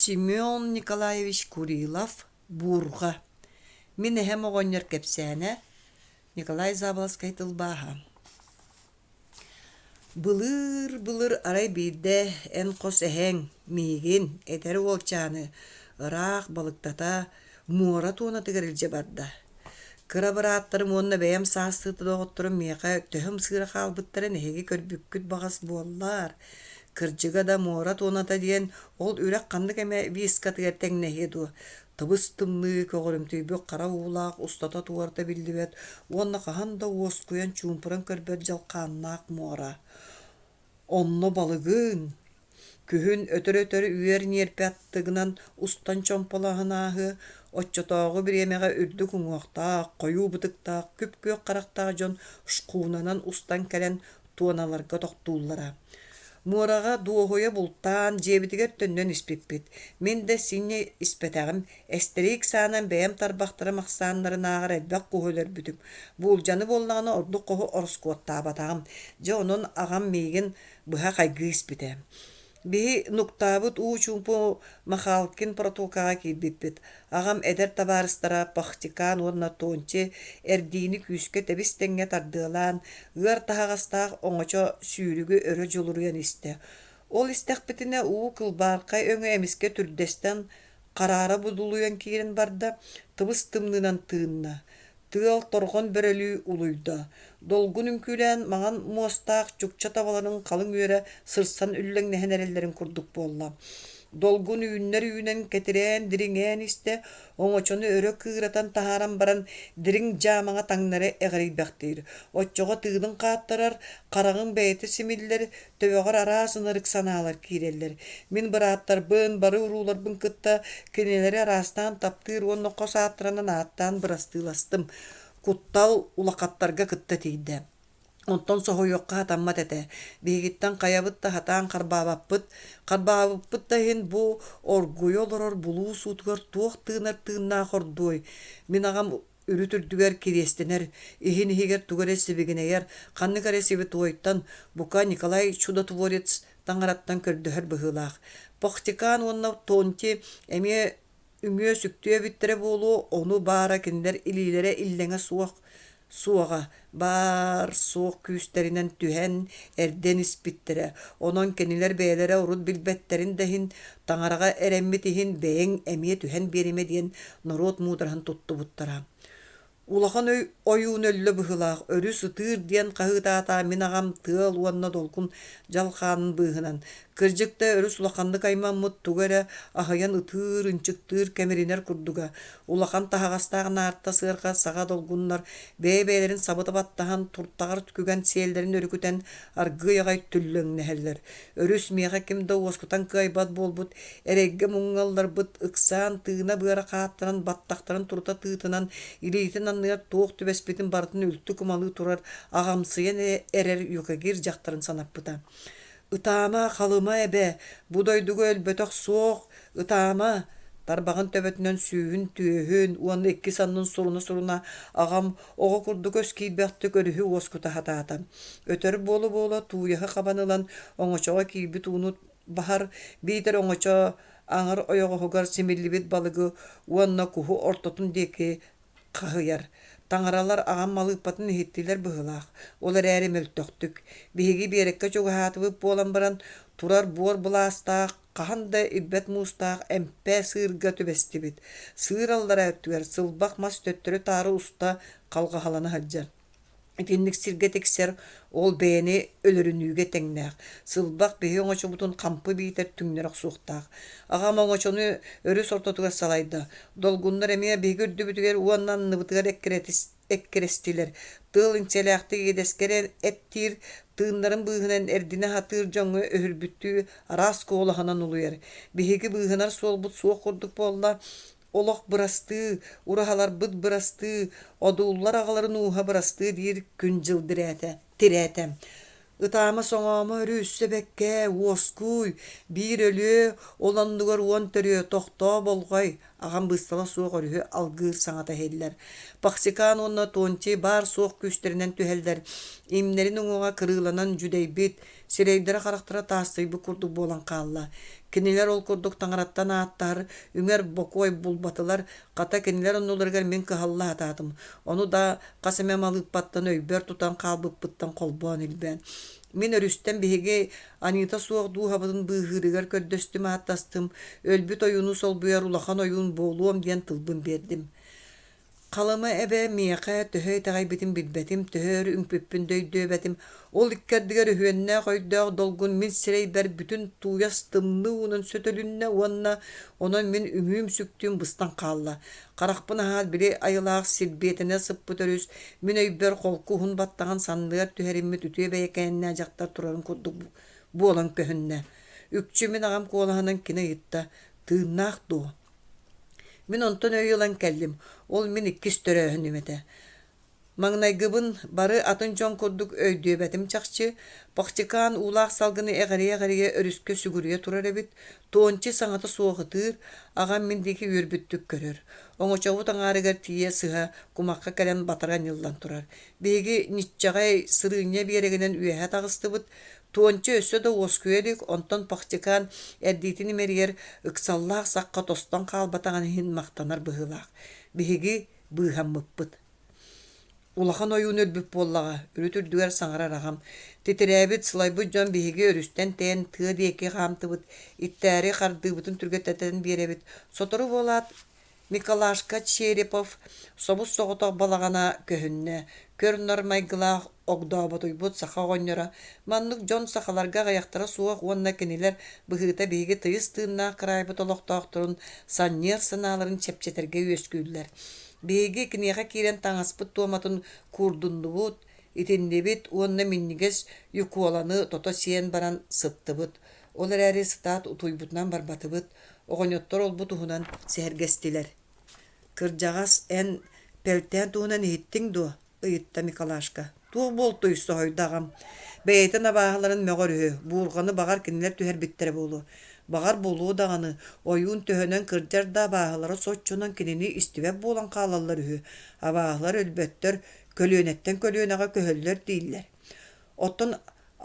Семен Николаевич Курилов, Буурҕа. Мин эһэм оҕонньор кэпсээнэ Николай Заболоцкай тылбааһа. Былыр, былыр арай биирдэ эн хос эһэҥ миигин, эдэр уолчааны ыраах балыктата, муора туонатыгар илдьэ барда. Кыра бырааттарым уонна бэйэм саастыы доҕотторум миэхэ төһөм сыыра хаалбыттарын эһиги көрбүккүт баҕас буоллар. Кырдьыга да муора туоната диэн ол үрэх ханнык эмэ вискатыгар тэҥнэһиэ дуо? Тыбыс-тымныы көҕөрүмтүйбүт хара уулаах устата туората биллибэт уонна хаһан да уоскуйан чуумпуран көрбөт дьалхааннаах муора. Онно балыгын, күһүн өтөр-өтөр үөр ньиэрпэ аттыгынан устан чомполоһон ааһыа, оччотооҕу бириэмэҕэ үрдүк уҥуохтаах, хойуу бытыктаах, күп-күөх харахтаах дьон шкунанан устан кэлэн туоналарга тохтууллара. Муораҕа дуоһуйа бултаан, дьиэбитигэр төннөн испиппит. Мин да синньэ испэтэҕим, эстэриик саанан бэйэм тарбахтарым ахсааннарынааҕар элбэх куһу өлөрбүтүм. Буулдьаны буоллаҕына ордук хоһу ороскуоттаабатаҕым. Дьэ онон аҕам миигин быһа хайгыы испитэ. Биһи Нуктаабыт уу чуумпу Махалкин протокаҕа киирбиппит. Аҕам эдэр табаарыстара Пахтикан уонна Тонче эрдиини күүскэ тэбис-тэҥҥэ тардыалаан, ыар таһаҕастаах оҥочо сүүрүгү өрө дьулуруйан истэ. Ол истэхпитинэ уу кылбааҥхай өҥө эмискэ түрдэстэн хараара будулуйан киирэн барда, тыбыс-тымныынан тыынна. Тыал торҕон бөрөлүү улуйда. Долгун үҥкүүлээн маҥан муостаах чукча табаларын халыҥ үөрэ сырсан үллэҥнэһэн эрэллэрин курдук буолла. Долгун үүннэр-үүнэн кэтирээн, дириҥээн истэ, оҥочону өрө кыыратан таһааран баран, дириҥ дьаамаҥа таҥнары эҕирийбэхтиир. Оччоҕо тыынын хааттарар, хараҕын бэйэтэ симиллэр, Төбөҕөр араас ынырык санаалар киирэллэр. Мин бырааттарбын, бары урууларбын кытта кинилэри араастаан таптыыр уонна хос ааттарынан ааттаан бырастыыластым. Куттал улахаттарга кытта тиийдэ. Онтон соһуйуохха хатаммат этэ. Биһигиттэн хайабыт да сатаан харбаабаппыт. Харбаабыппыт да иһин бу оргуйа олорор булуус уутугар туох тыынар тыыннаах ордуой? Мин аҕам Үрүт үрдүгэр кириэстэнэр, иһин иһигэр тугу эрэ сибигинэйэр, ханнык эрэ сибитуойтан, бука, Николай Чудотворец таҥараттан көрдөһөр быһыылаах. Похтикаан уонна Тонти эмиэ үҥүө-сүктүө эбиттэрэ буолуо, ону баара кинилэр илиилэрэ иллэҥэ суох, суоҕа, баар-суох күүстэринэн түһэн, эрдэн испиттэрэ. Онон кинилэр бэйэлэрэ урут билбэттэрин да иһин, таҥараҕа эрэммит иһин бэйэҥ эмиэ түһэн биэримэ диэн норуот муудараһын туттубуттара. Улахан өй ойуун өллө быһыылаах, өрүс ытыыр диэн хаһыытаата мин аҕам тыал уонна долгун дьалхаанын быыһынан Кырдьык да өрүс улаханнык аймаммыт тугу эрэ аһыйан ытыыр, ынчыктыыр, кэмиринэр курдуга. Улахан таһаҕастаах наарта сыарҕа саҕа долгуннар бэйэ-бэйэлэрин сабыта баттаһан, туртаҕар түгэн сиэллэрин өрүкүтэн аргыый аҕай түллэҥнэһэллэр. Өрүс миэхэ ким да уоскутан кыайбат буолбут, эрэйгэ муҥналларбыт, ыксаан тыына-быара хааттаран баттахтарын турута тыытынан илиитин анныгар туох түбэспитин барытын үлтү кумалыы турар, аҕамсыйан эрэр Юкагир дьахтарын санаппыта. Ытаама, Халыма эбэ, бу дойдуга өлбөтөх суох, ытаама! Тарбаҕын төбөтүнэн сүүһүн-түөһүн уонна икки саннын суруна-суруна аҕам оҕо курдук өскиирбэхтик өрүһү уоскута сатаата. Өтөр буола-буола тууйаһы хабан ылан оҥочоҕо киирбит ууну баһар, биитэр оҥочо аҥар ойоҕоһугар симиллибит балыгы уонна куһу ортотун диэки хаһыйар. Таҥаралар аҕам малыыппатын иһиттилэр быһыылаах, ол эрээри мөлтөхтүк. Биһиги биэрэккэ чугаһаатыбыт буолан баран, турар буор былаастаах, хаһан да ирбэт муустаах эмпэ сыырга түбэстибит. Сыыр аллара өттүгэр сылбах мас төттөрү-таары уста халҕаһалана сылдьар. Итинник сиргэ тиксэр, ол бэйэни өлөрүнүүгэ тэҥнээх. Сылбах биһи оҥочобутун хампы биитэр түҥнэри охсуохтаах. Аҕам оҥочону өрүс ортотугар салайда. Долгуннар эмиэ биһиги үрдүбүтүгэр уонна анныбытыгар эккирэстилэр. Тыал инсэлээхтик иэдэскэрэн эттиир, тыыннарын быыһынан эрдинэ сатыыр дьоҥҥо өһүрбүттүү араас куолаһынан улуйар. Биһиги быыһанар суолбут суох курдук буолла, Олох бырастыы, ураһаларбыт бырастыы, одууллар аҕаларын ууһа бырастыы диир күн-дьыл дирээтэ, тирээтэ. Ытаама-соҥоомо өрүү өссө бэккэ, уоскуй, биир өлүө, ол оннугар уон төрүө тохтоо болҕой, аҕам быыстала суох өрүһү алгыыр саҥата иһиллэр. Паксикаан уонна Тонтий баар-суох күүстэринэн түһэллэр, имнэрин уҥуоҕа кырыыланан дьүдэйбит, сирэйдэрэ-харахтара таастыйбыт курдук буолан хаалла. Кинилэр ол курдук таҥараттан ааттаһар, үҥэр бокуой булбатылар, хата кинилэр оннуларыгар мин кыһаллаатаатым. Ону да хас эмэ малыыппаттан өйбөр тутан хаалбыппыттан холбоон илбээн. Мин өрүстэн биһиги Анита суох дууһабытын быыһыырыгар көрдөстүм ааттастым, өлбүт ойууну солбуйар улахан ойуун буолуом диэн тылбын биэрдим. Халыма эбэ миэхэ төһө итэҕэйбитин билбэтим, төһө өр үҥпүппүн да өйдүөбэтим. Ол икки ардыгар үһүөннээх өйдөөх долгун мин сирэйбэр бүтүн тууйас тымныы уунун сөтөлүннэ уонна онон мин үҥүүм-сүктүүм быстан хаалла. Харахпын аһаат били айылаах сирбиэтэнэ сыппыт өрүс мин өйбөр холку уһун баттаҕын санныгар түһэриммит үтүө бэйэкээннээх дьахтар турарын курдук буолан көһүннэ. Үкчү мин аҕам куолаһынан кини ыйытта: «Тыыннаах дуо?» Мин онтон өй ылан кэллим, ол мин иккис төрөөһүнүм этэ. Маҥнайгыбын бары атын дьон курдук өйдүөбэтим чахчы, Пахчыкаан уулаах салгыны эҕирийэ-эҕирийэ өрүскэ сүгүрүйэ турар эбит, Туонча саҥата суох ытыыр, аҕам мин диэки үөрбүттүк көрөр. Оҥочобут аҥаарыгар тиийэ сыһа кумахха кэлэн батара ньыллан турар. Биһиги ньиччэҕэй сырыынньа биэрэгинэн үөһэ таҕыстыбыт, Туонча өссө да уоскуйа илик, онтон Пахчыкаан эрдиитин имэрийэр ыксаллаах сахха тостон хаалбатаҕын иһин махтанар быһыылаах. Биһиги быыһаммыппыт. Улахан ойуун өлбүт буоллаҕа, үрүт үрдүгэр саҥарар аҕам. Титирээбит, сылайбыт дьон биһиги өрүстэн тэйэн тыа диэки хаамтыбыт, иттээри хардыыбытын түргэттэтэн биэрэбит. Сотору буолаат, Николашка Черепов собус-соҕотох балаҕана көһүннэ, көр-нар майгылаах, огдооботуйбут саха оҕонньоро, маннык дьон сахаларга аҕыйахтара суох уонна кинилэр быһыыта биһиги тыйыс тыыннаах кыраайбыт олохтоохторун санньыар санааларын чэпчэтэргэ үөскүүллэр. Биһиги киниэхэ киирэн таҥаспыт туоматын куурдуннубут, итиннибит уонна минньигэс Ньукуоланы тото сиэн баран сыттыбыт. Ол эрээри ыстаат утуйбутунан барбатыбыт, оҕонньоттор ол-бу туһунан сэһэргэстилэр. Кырдьаҕас, эн Пэлтээн туһунан иһиттиҥ дуо? ыйытта Микалашка. Туох буолтуй, соһуйда аҕам. Бэйэтин абааһыларын мөҕөр үһү, буурҕаны баҕар кинилэр түһэрбиттэрэ буолуо. Баҕар буолуо даҕаны, ойуун төһөнөн кырдьар да абааһылара соччонон кинини истибэт буолан хаалаллар үһү. Абааһылар өлбөттөр, көлүөнэттэн көлүөнэҕэ көһөллөр дииллэр. Оттон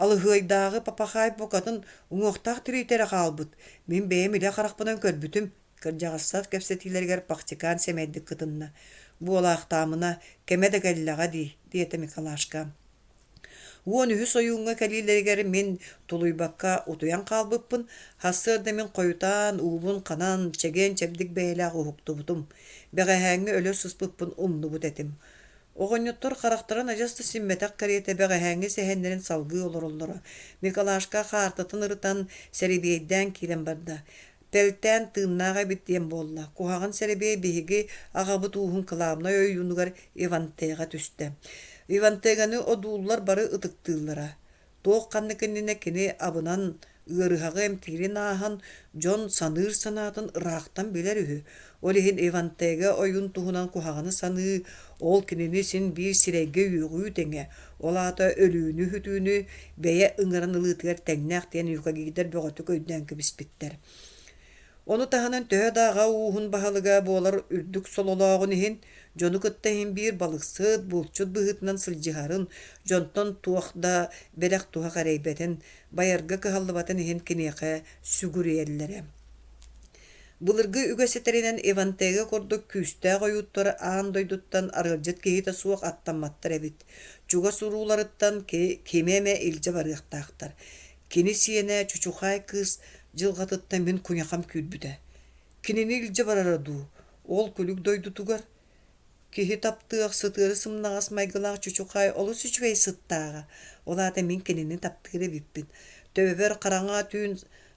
Алыһыайдааҕы папахаай букатын уҥуохтаах тириитэрэ хаалбыт. Мин бэйэм илэ харахпынан көрбүтүм. Кырдьаҕастар кэпсэтиилэригэр Пахтикаан сэмэйдик кытынна. «Буолаахтаамына, кэмэ да кэллэҕэ дии», диэтэ Микалашка. Уон үһүс ойууҥҥа кэлиилэригэр мин тулуйбакка утуйан хаалбыппын, сарсыарда мин хойутаан, уубун ханан, чэгиэн чэбдик бэйэлээх уһуктубутум. Бэҕэһээҥҥи өлө сыспыппын умнубут этим. Оҕонньоттор харахтарын адьас да симмэтэх кэриэтэ бэҕэһээҥҥи сэһэннэрин салгыы олороллоро. Микалашка хаартатын ырытан, сэрибиэйдээн киирэн барда. Тэлтээн тыыннаах эбит диэн буолла, куһаҕан сэрибиэй биһиги аҕабыт ууһун кылаабынай ойуунугар Ивантега түстэ. Ивантеганы одууллар бары ытыктыыллара. Туох-ханнык иннинэ кини абынан ыарыһаҕы эмтиирин ааһан, дьон саныыр санаатын ыраахтан билэр үһү. Ол иһин Ивантега ойун туһунан куһаҕаны саныы, ол кинини син биир сирэйгэ-үөҕүү тэҥэ, ол аата өлүүнү-үтүүнү бэйэ ыҥыран ылыытыгар тэҥнээх диэн юкагидар бөҕөтүк өйдөөн кэбиспиттэр. Ону таһынан төһө да аҕа ууһун баһылыга буолар үрдүк сололооҕун иһин, Дьону кытта иһин биир балыксыт, булчут быһыытынан сылдьыһарын, дьонтон туох да бэлэх туһах эрэйбэтин, байарга кыһаллыбатын иһин киниэхэ сүгүрүйэллэрэ. Былыргы үгэс ситэринэн Ивантега курдук күүстээх ойууттар аан дойдуттан арыалдьыт киһитэ суох аттамматтар эбит. Чугас урууларыттан кими эмэ илдьэ барыахтаахтар. Кини сиэнэ чучухаай кыыс дьылҕатыттан мин куйахам күүрбүтэ. Кинини илдьэ барара дуу, ол күлүк дойдутугар, киһи таптыах, сытыары сымнаҕас майгылаах чучухаай олус үчүгэй сыттааҕа, ол аата мин кинини таптыыр эбиппин. Төбөбөр хараҥа түүн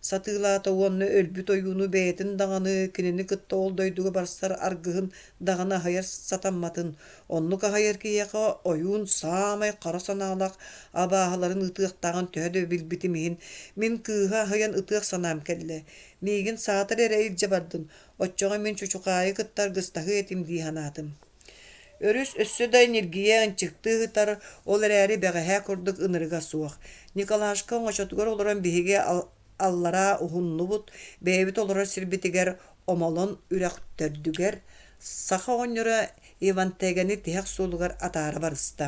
сатыылаата уонна өлбүт ойууну бэйэтин даҕаны, кинини кытта ол дойдуга барсар аргыһын даҕаны аһайар сатамматын. Оннук аһайар киһиэхэ ойуун саамай хара санаалаах абааһыларын ытыахтааҕын төһө да билбитим иһин, мин кыыһы аһыйан ытыах санаам кэллэ. Миигин саатар эрэ илдьэ бардын, оччоҕо мин чучукаайы кытта аргыстаһыа этим дии санаатым. Өрүс өссө да ньиргийэ ынчыктыы сытар, ол эрээри бэҕэһээ курдук ынырыга суох. Николашка оҥочотугар олорон биһиги аллараа уһуннубут, бэйэбит олорор сирбитигэр омолон үрэх төрдүгэр саха оҕонньоро Иван Тегэни тиһэх суолугар атаара барыста.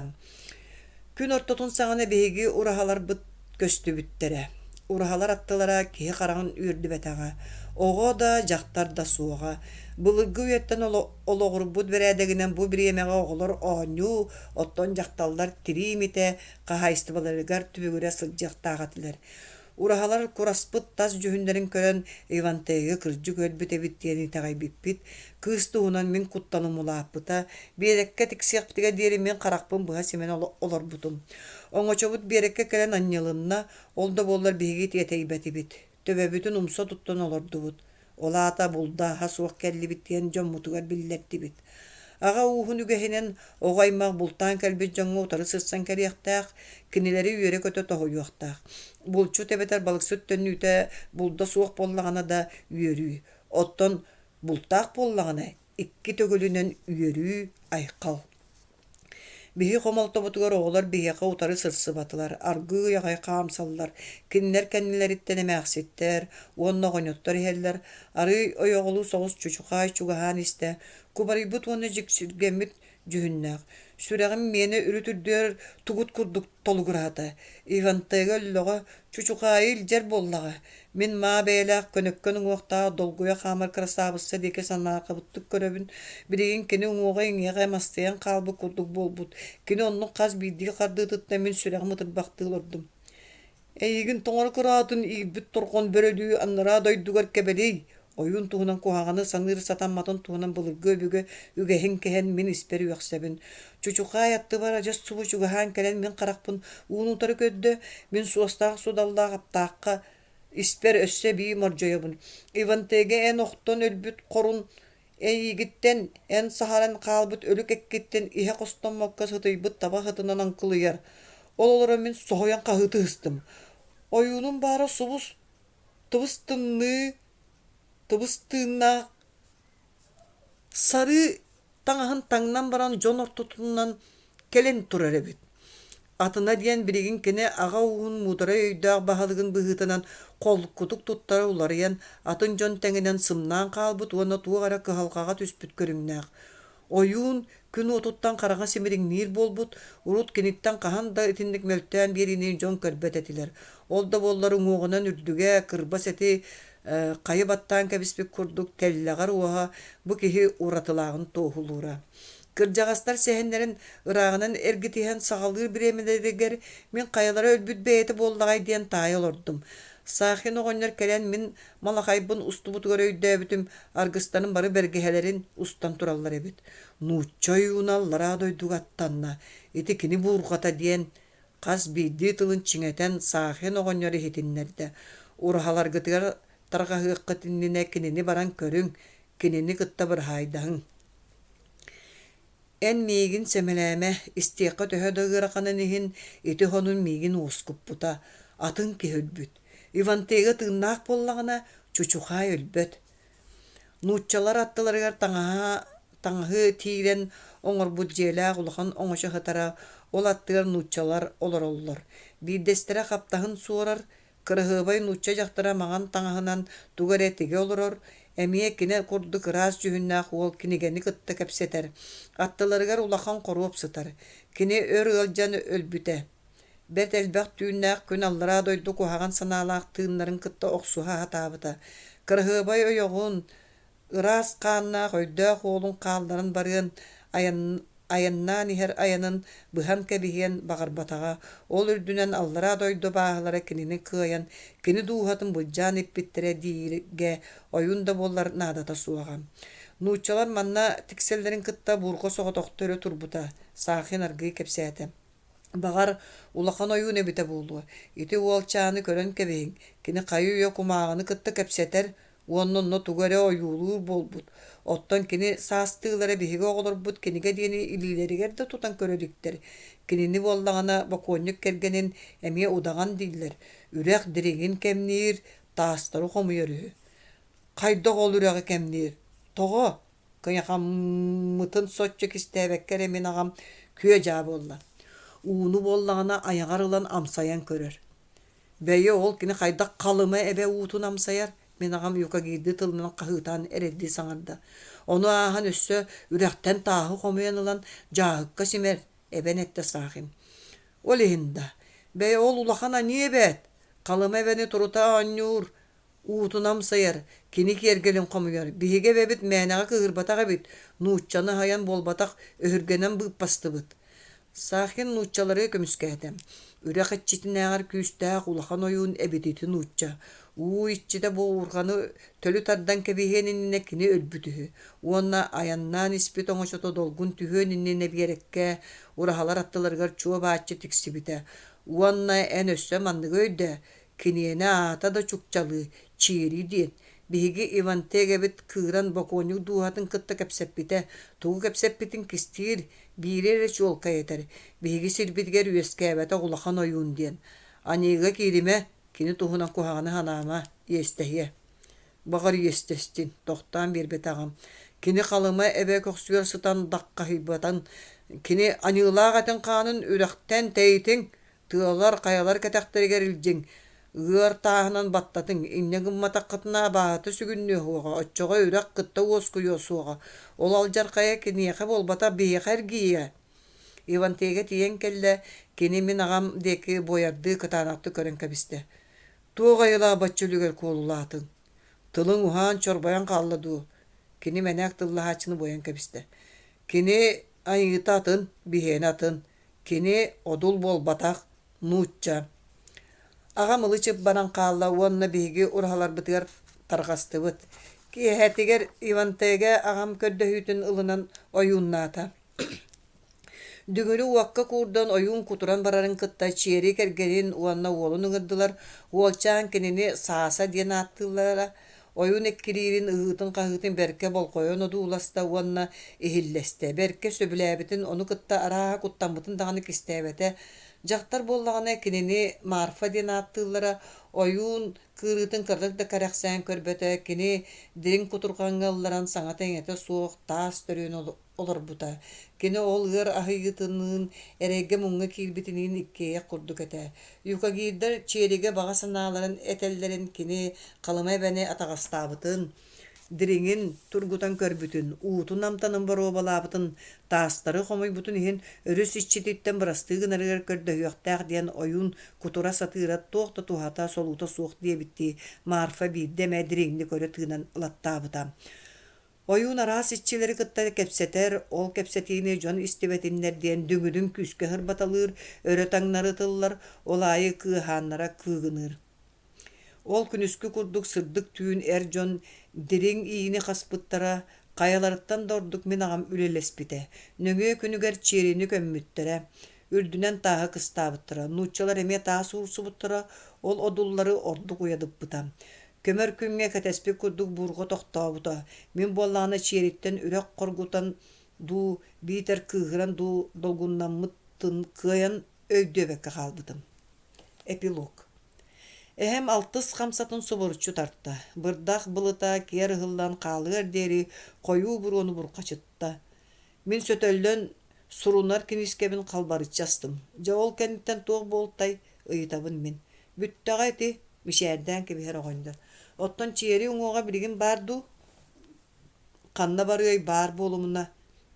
Күн ортотун саҕана биһиги ураһаларбыт көстүбүттэрэ. Ураһалар аттылара киһи хараҕын үөрдүбэтэҕэ. Оҕо да, дьахтар да суоҕа. Былыргы үйэттэн олоҕурбут бэрээдэгинэн бу бириэмэҕэ оҕолор оонньуу, оттон дьахталлар тирии имитэ хаһаайыстыбаларыгар түбүгүрэ сылдьыахтаах этилэр. Ураһалар кураспыт тас дьүһүннэрин көрөн Ивантейга кырдьык өлбүт эбит диэн итэҕэйбиппит, кыыс туһунан мин куттан умулааппыта. Биэрэккэ тиксиэхпитигэр диэри мин харахпын быһа симэн олорбутум. Оҥочобут биэрэккэ кэлэн анньылынна, ол да буоллар биһиги тиэтэйбэтибит. Төбөбүтүн умса туттан олордубут. Ол аата булдааһа суох кэллибит диэн дьоммутугар биллэрдибит. Аҕа ууһун үгэһинэн оҕо-аймах бултаан кэлбит дьоҥҥо утары сырсан кэлиэхтээх, кинилэри үөрэ-көтө тоһуйуохтаах. Булчут эбэтэр балыксыт төннүүтэ булда суох буоллаҕына да үөрүү. Оттон бултаах буоллаҕына икки төгүлүнэн үөрүү, айхал. Биһи хомолтобутугар оҕолор биһиэхэ утары сырсыбатылар, аргыы аҕай хаамсаллар, кинилэр кэннилэриттэн эмээхситтэр уонна оҕонньоттор иһэллэр. Арыый ойоҕолуу соҕус чучухаай чугаһаан истэ, кубарыйбыт уонна дьиксиргэммит дьүһүннээх. Сүрэҕим миэнэ үрүт-үрдүгэр тугут курдук толугураата. Ивантега өллөҕө, чучухаайы илдьэр буоллаҕа. Мин маа бэйэлээх көнөккөн уҥуохтаах долгуйа хаамар красавца диэки санаакабыттык көрөбүн. Билигин кини уҥуоҕа-иҥиэҕэ эмастайан хаалбыт курдук буолбут. Кини оннук хас биирдии хардыытыттан мин сүрэҕим ытырбахтыы олордум. Эйигин тоҥоро кыраатын иирбит торҕон бөрөлүү аннараа дойдугар кэбэлиэй, Ойуун туһунан куһаҕаны саныыр сатамматын туһунан былыргы-өбүгэ үгэһин кэһэн мин испэр үөхсэбин. Чучухаай аттыбар адьас субу чугаһаан кэлэн мин харахпын уун утары көрдө, мин суостаах-судаллаах аптаахха испэр өссө эбии мордьойобун. Ивантеге эн охтон өлбүт хорун эйиигиттэн эн саһаран хаалбыт өлүк эккиттэн иһэ хостоммокко сытыйбыт таба хытынан аҥкылыйар. Ол олоро мин соһуйан хаһыы тыыстым. Ойуунум баара субус тубус-тымныы, тубус-тыыннаах сарыы таҥаһын таҥнан баран дьон ортотунан кэлэн турар эбит. Атына диэн билигин кини аҕа ууһун муударай өйдөөх баһылыгын быһыытынан холкутук туттара уларыйан атын дьон тэҥинэн сымнаан хаалбыт уонна туох эрэ кыһалҕаҕа түспүт көрүҥнээх. Ойуун күн уотуттан хараҕа симириҥниир буолбут, урут киниттэн хаһан да итинник мөлтөөн биэриини дьон көрбөт этилэр. Ол да буоллар уҥуоҕунан үрдүгэ, кырбас эти хайы баттаан кэбиспит курдук тэллэҕэр уоһа бу киһи уратылааҕын туоһулуура. Кырдьаҕастар сэһэннэрин ырааҕынан эргитиһэн саҕалыыр бириэмэлэригэр «Мин хайалара өлбүт бэйэтэ буоллаҕай?» диэн таайа олордум. Саахин оҕонньор кэлэн мин Малахайбын устубутугар өйдөөбүтүм, аргыстаным бары бэргэһэлэрин устан тураллар эбит. Нуучча ойууна аллараа дойдуга аттанна. Ити кини буурҕата диэн хас биирдии тылын чиҥэтэн саахын оҕонньор иһитиннэрдэ. Ураһаларгытыгар тарҕаһыаххыт иннинэ кинини баран көрүҥ, кинини кытта быраһаайдаһыҥ. Эн миигин сэмэлээмэ, истиэххэ төһө да ыараханын иһин, ити хонун миигин уоскуппута, атын киһи өлбүт. Ивантега тыыннаах буоллаҕына, чучухаай өлбөт. Нууччалар аттыларыгар таҥаһа, таҥаһы тиирэн оҥорбут дьиэлээх улахан оҥочо сытара, ол аттыгар нууччалар олороллор. Биирдэстэрэ хаптаһын суорар, Кыраһыабай нуучча дьахтара маҥан таҥаһынан тугу эрэ тигэ олорор, эмиэ кини курдук ыраас дьүһүннээх уол кинигэни кытта кэпсэтэр, аттыларыгар улахан хоруоп сытар. Кини өр ыалдьан өлбүтэ. Бэрт элбэх түүннээх күн аллараа дойду куһаҕан санаалаах тыыннарын кытта охсуһа сатаабыта. Кыраһыабай ойоҕун, ыраас хааннаах өйдөөх уолун хаалларан барыан айаннаан иһэр айанын быһан кэбиһиэн баҕарбатаҕа, ол үрдүнэн аллараа дойду абааһылара кинини кыайан, кини дууһатын былдьаан эппиттэрэ дииргэ ойуун да буолар наадата суоҕа. Нууччалар манна тиксэллэрин кытта буурҕа соҕотохто өрө турбута, Саахин аргыый кэпсээтэ. Баҕар, улахан ойуун эбитэ буолуо, ити уолчааны көрөн кэбиһиҥ, кини хайы-үйэ кумааҕыны кытта кэпсэтэр, Уонна онно тугу эрэ ойуулуур буолбут. Оттон кини саастыылара биһиги оҕолорбут кинигэ диэни илиилэригэр да тутан көрө иликтэр. Кинини буоллаҕына бокуонньук кэргэнин эмиэ удаҕан дииллэр. Үрэх дириҥин кэмниир, таастары хомуйар үһү. Хайдах ол үрэҕи кэмниир? Тоҕо? Кыйахаммытын соччо кистээбэккэ эрэ мин аҕам күө-дьаа буолла. Ууну буоллаҕына айаҕар ылан амсайан көрөр. Бэйэ ол кини хайдах Халыма эбэ уутун амсайар, мин аҕам юка киирди тылынан хаһыытаан эрэйдии саҥарда. Ону ааһан өссө үрэхтэн тааһы хомуйан ылан дьааһыкка симэр, эбэн эттэ Саахим. Ол иһин да, бэйэ ол улахан аньыы эбээт, Халыма эбэни турута оонньуур, Уутун амсайар, кини киэргэлин хомуйар, биһиги эбэбит мээнэҕэ кыыһырбатах эбит, нууччаны аһайан буолбатах өһүргэнэн быыппастыбыт. Саахин нууччалары көмүскээтэ. Үрэх иччитинээҕэр күүстээх улахан ойуун эбит ити нуучча. Уу иччитэ буурҕаны төлү тардан кэбиһиэн иннинэ кини өлбүт үһү. Уонна айаннаан испит оҥочото долгун түһүөн иннинэ биэрэккэ ураһалар аттыларыгар чуо бааччы тиксибитэ. Уонна эн өссө манныгы өйдөө, Киниэнэ аата да чукчалыы Чиэрии диэн. Биһиги Ивантегэбит кыыран бокуонньук дууһатын кытта кэпсэппитэ, тугу кэпсэппитин кистиир, биири эрэ чуолкай этэр, биһиги сирбитигэр үөскээбэтэх улахан ойуун диэн. Аньыыга кииримэ, кини туһунан куһаҕаны санаама, иэстэһиэ. Баҕар иэстэстин, тохтоон биэрбэтэҕим. Кини Халыма эбэ көхсүгэр сытан даккаһыйбатан, кини Аньыылаах этин хаанын үрэхтэн тэйитиҥ, Тыалар хайалар кэтэхтэригэр илдьиҥ, ыар тааһынан баттатыҥ, инньэ гымматаххытына абааһыта сүгүннүө суоҕа, оччоҕо үрэх кытта уоскуйуо суоҕа. Ол алдьархайа киниэхэ буолбата биһиэхэ эргийиэ. Ивантега тиийэн кэллэ, кини мин аҕам диэки буойардыы кытаанахтык көрөн кэбистэ. Туох айылаах бачча үлүгэр куолулаатыҥ? Тылыҥ уһаан, чорбойон хаалла дуу? Кини мэнээк тыллаһааччыны буойан кэбистэ. Кини Айыыта атын, биһиэнэ атын. Кини одул буолбатах, нуучча. Аҕам ылы-чып баран хаалла уонна биһиги ураһаларбытыгар тарҕастыбыт. Киэһэтигэр Ивантега аҕам көрдөһүүтүн ылынан ойууннаата. Дүҥүрү уокка куурдан ойуун кутуран барарын кытта Чиэри кэргэнин уонна уолун ыҥырдылар. Уолчаан кинини Сааса диэн ааттыыллара. ойуун эккириирин ыһыытын-хаһыытын бэркэ болҕойон одууласта уонна иһиллэстэ. Бэркэ сөбүлээбитин, ону кытта арааһа куттаммытын даҕаны кистээбэтэ. Дьахтар буоллаҕына, кинини Марфа диэн ааттыыллара. Ойуун кыырыытын кырдык да кэрэхсээн көрбөтө, кини дириҥ кутурҕаҥҥа ылларан саҥата-иҥэтэ суох таас төрүөн олорбута. Кини ол ыар аһыйыытыныын, эрэйгэ-муҥҥа киирбитиниин иккиэйэх курдук этэ. Юкагирдар Чиэригэ баҕа санааларын этэллэрин кини Халыма эбэни атаҕастаабытын, дириҥин тургутан көрбүтүн, уутун-амтанын боруобалаабытын, таастары хомуйбутун иһин өрүс иччититтэн бырастыы гынарыгар көрдөһүөхтээх диэн ойуун кутура сатыыра туох да туһата, солуута суох диэбиттии, Марфа биирдэ эмэ дириҥник өрө тыынан ылаттаабыта. Ойуун араас иччилэри кытта кэпсэтэр, ол кэпсэтиини дьон истибэтиннэр диэн дүҥүрүн күүскэ сырбаталыыр, өрө таҥнары ытыллар, ол аайы кыыһааннара кыыгыныыр. Ол күнүскү курдук сырдык түүн эр дьон дириҥ иини хаспыттара, хайаларыттан да ордук мин аҕам үлэлэспитэ. Нөҥүө күнүгэр Чиэрини көммүттэрэ. үрдүнэн тааһы кыстаабыттара, нууччалар эмиэ таас уурсубуттара, ол одуллары ордук уйадыппыта. Көмөр күҥҥэ кэтэспит курдук буурҕа тохтообута, мин буоллаҕына чиэриттэн үрэх хоргутан дуу, биитэр кыыһыран дуу долгуннаммытын кыайан өйдүөбэккэ хаалбытым. Эпилог Эһэм алтыс хамсатын субуруччу тарта, бырдах былыта киэр ыһыллан хаалыар диэри хойуу буруону бурҕачытта. Мин сөтөллөн сурунар киниискэбин халбарыччы астым. Дьэ, ол кэнниттэн туох буолтай ыйытабын мин. Бүттэҕэ ити, мичээрдээн кэбиһэр оҕонньор. Оттон чиэри уҥуоҕа билигин баар дуу? Ханна барыай баар буолумуна,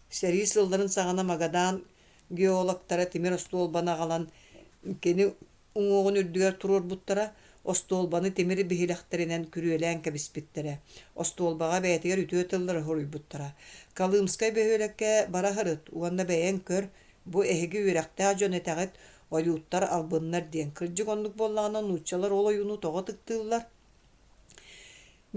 сэрии сылларын саҕана Магадан геологтара тимир остуолбаны аҕалан кини уҥуоҕун үрдүгэр туруорбуттара, остуолбаны тимир биһилэхтэринэн күрүөлээн кэбиспиттэрэ. Остуолбаҕа бэйэтигэр үтүө тыллары хоруйбуттара. Колымскай бөһүөлэккэ бара сырыт уонна бэйэҥ көр, бу эһиги үөрэхтээх дьон этэҕит, ойууттар албыннар диэн. Кырдьык оннук буоллаҕына нууччалар ол ойууну тоҕо ытыктыыллар?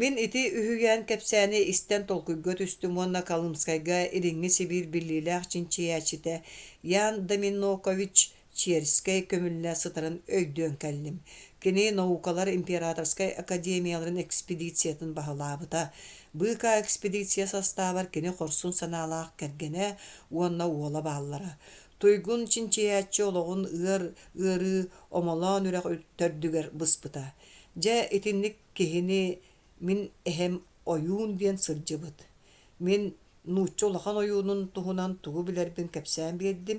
Мин ити үһүйээн кэпсээни истэн толкуйга түстүм уонна Колымскайга Илиҥҥи Сибиир биллиилээх чинчийээччитэ Ян Доминокович Черскэй көмүллэ сытарын өйдөөн кэллим. Кини наукалар императорскай академияларын экспедициятын баһылаабыта. Быыкаа экспедиция састаабар кини хорсун санаалаах кэргэнэ уонна уола бааллара. Туйгун чинчийээччи олоҕун ыар ыарыы, омолоон үрэх төрдүгэр быспыта. Дьэ, итинник киһини Мин эһэм ойуун диэн сылдьыбыт. Мин нуучча улахан ойуунун туһунан тугу билэрбин кэпсээн биэрдим.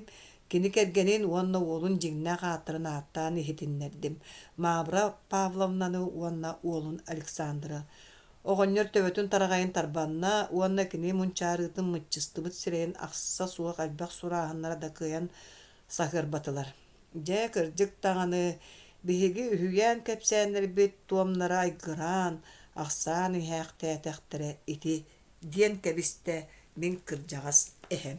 Кини кэргэнин уонна уолун дьиҥнээх ааттарын ааттаан иһитиннэрдим. Мавра Павловнаны уонна уолун Александра. Оҕонньор төбөтүн тараҕайын тарбанна уонна кини мунчаарыытын мыччыстыбыт сирэйин ахса суох элбэх сурааһыннара да кыайан саһыарбатылар. Дьэ, кырдьык даҕаны, биһиги үһүйээн кэпсээннэрбит туомнара айгыраан, ахсаан иһээхтээтэхтэрэ ити, диэн кэбистэ мин кырдьаҕас эһэм.